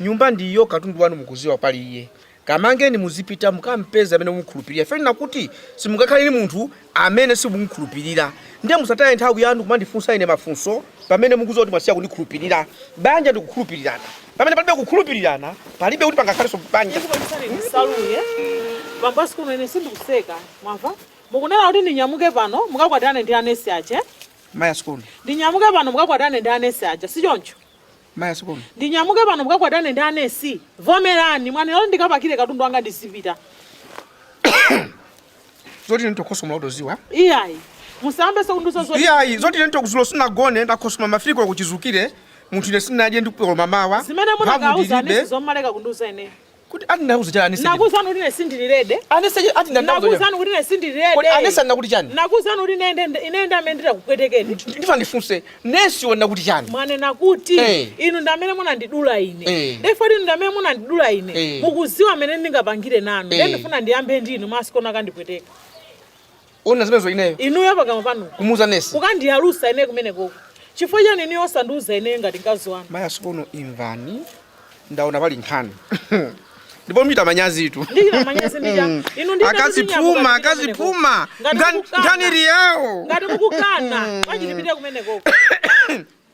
nyumba ndi iyo katundu wanu mukuziwa pali iye kamangeni muzipita mukampeze amene mumukhulupirira ife nakuti simungakhale ni munthu amene simumukhulupirira ndiye musataye nthawi yanu kumandifunsa ine mafunso pamene mukuziwa kuti mwasiya kundikhulupirira banja ndikukhulupirirana pamene palibe kukhulupirirana palibe kuti pangakhalenso banja saluye bambo a sikono ine sindikuseka mwamva mukunena kuti ndinyamuke pano mukakwatirane ndi anesi ache mayi a sikono ndinyamuke pano mukakwatirane ndi anesi aja si choncho mayi a sikono ndinyamuke pano mukakwatane ndi anesi vomerani mwanena kuti ndikapakire katundu wanga ndizipita zoti ine nditokhosomola mutoziwa iyayi musambe sekunduso zoti iyayi zoti ine nditokuzulo sinagone ndakhosomola mafiliko kuchizukire munthu ine sinadye ndikukoloma mawa zimene Mphamvu munakauza ndilibe. anesi zomaleka kundiuza ine Kuti ati ndinakuza chani anesi? Nakuzani kuti ine sindili ready. Anesi chani ati ndinakuza chani? Nakuzani kuti ine sindili ready. Kodi anesi ndinakuti chani? Nakuzani kuti ine ine ine ndamene ndakupwetekeni. Ndifuna ndifunse nesi wanena kuti chani? Mwanena kuti hey. Inu ndamene munandidula ine. Hey. Therefore inu ndamene munandidula ine. Hey. Mukuziwa mene ndingapangire nanu. Hey. Ndifuna ndiyambe ndinu mayi a Sikono kandipweteka. Ona zimenezo ineyo. Inuyo pakamwa panu. Kumuuza nesi. Kukandiyalusa ineyo kumenekoko. Chifukwa chani inuyo osandiuza ineyo ngati mkazi wanu? Mayi a Sikono imvani. Ndaona pali nkhani. ndipo muchita manyazitu ndikira manyazi ndija hmm. inu ndi akazi a phuma akazi a phuma ngani ngani riao ngati mukukana hmm. bwanji tipite kumenekoko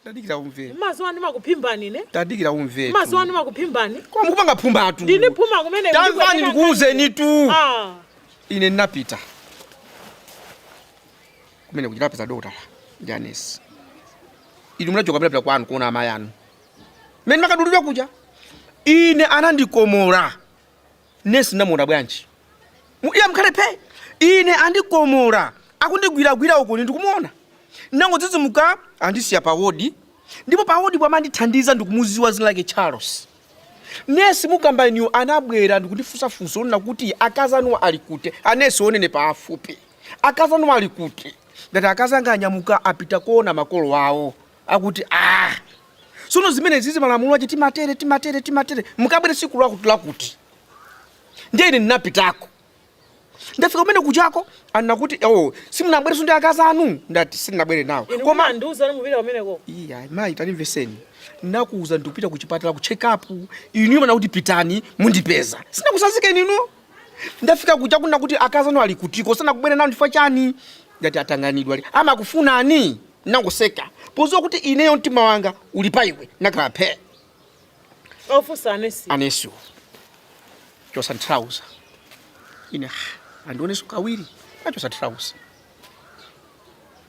Tadikira umve. Mumaziwa ndimakuphimbani ine. Tadikira umve. Maziwa ndimakuphimbani. Koma mukupanga phumatu. Ndine phuma kumene kuti. Tamvani ndikuuzeni tu. Ah. Ine ndinapita. Kumene kuja ndapeza dokotala. James. Inu munachoka munapita kwanu kuona amayi anu. Mene ndimakadulidwa kuja. Ine anandikomola. nesi ndamuona bwanji Mu- iye mukhale phe ine andikomola akundigwiragwira uko ine ndikumuona ndangodzidzimuka andisiya pa wodi ndipo pa wodi womandithandiza ndikumuziwa dzina lake charles nesi mukamba inuyo anabwera ndikundifunsa funso onena kuti akazi anuwa ali kuti anesi onenepa afupi akazi anuwa ali kuti ndati akazi anga anyamuka apita kuona makolo awo akuti ah sono zimenezizi malamulo ache timatere timatere timatere mukabwere siku lakuti lakuti ndiye ine ndinapitako ndafika kumene kujako anakuti oh simunabwereso ndi akazi anu ndati sindinabwere nawo koma ndiuzani mupita kumeneko iya mayi tandimvetseni nakuuza ndikupita kuchipatala ku check up inu mwanena kuti pitani mundipeza sinakutsanzikeni inu ndafika kuja kunena kuti akazi anu ali kutiko sanakubwere nawo ndifukwa chani ndati atanganidwa ali amakufunani nangoseka poziwa kuti ineyo mtima wanga uli pa iwe nakhala phe ofusa anesi anesiwo chosa ntrauza ine "Ah, andioneso kawiri nachosa ntrauza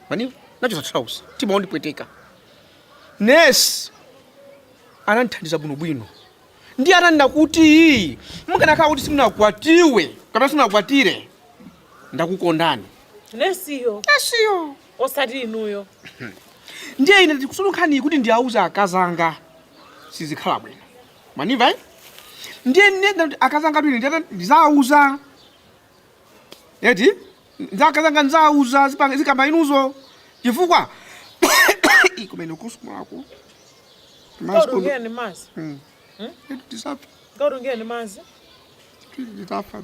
mani nachosa ntrauza mtima wandipweteka nesi anamthandiza bwinobwino ndi ananena kuti mukanakhala kuti simunakwatiwe kapena simunakwatire ndakukondani nesiyo nesiyo osati inuyo ndiye ine ndikusunga nkhaniyi kuti ndiyauze akazi anga sizikhala bwino mwandimva eh? ndiye ndiyenda kuti akazi anga twine ndiyata ndizauza eti ndi akazi anga ndizauza zipanga- zikamba inuzo chifukwa Ih, kumene kusumulako kautungire ni mazi tisafa kautungire ni mazi titafa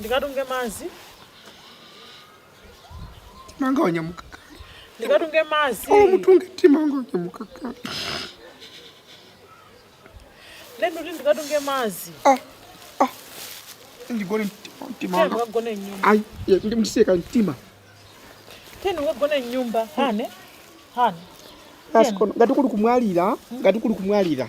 ndikatunge mazi mtima wanga wanyamuka kale ndikatunge mazi oh mutunge mtima wanga wanyamuka kale lendo kuti ndikatunge mazi ah ah ndigone mtima- timanga ndikagone nyumba ayi ye, ndimseka mtima teni ukagone nyumba hane hane pasikono ngati kuli kumwalira ngati kuli kumwalira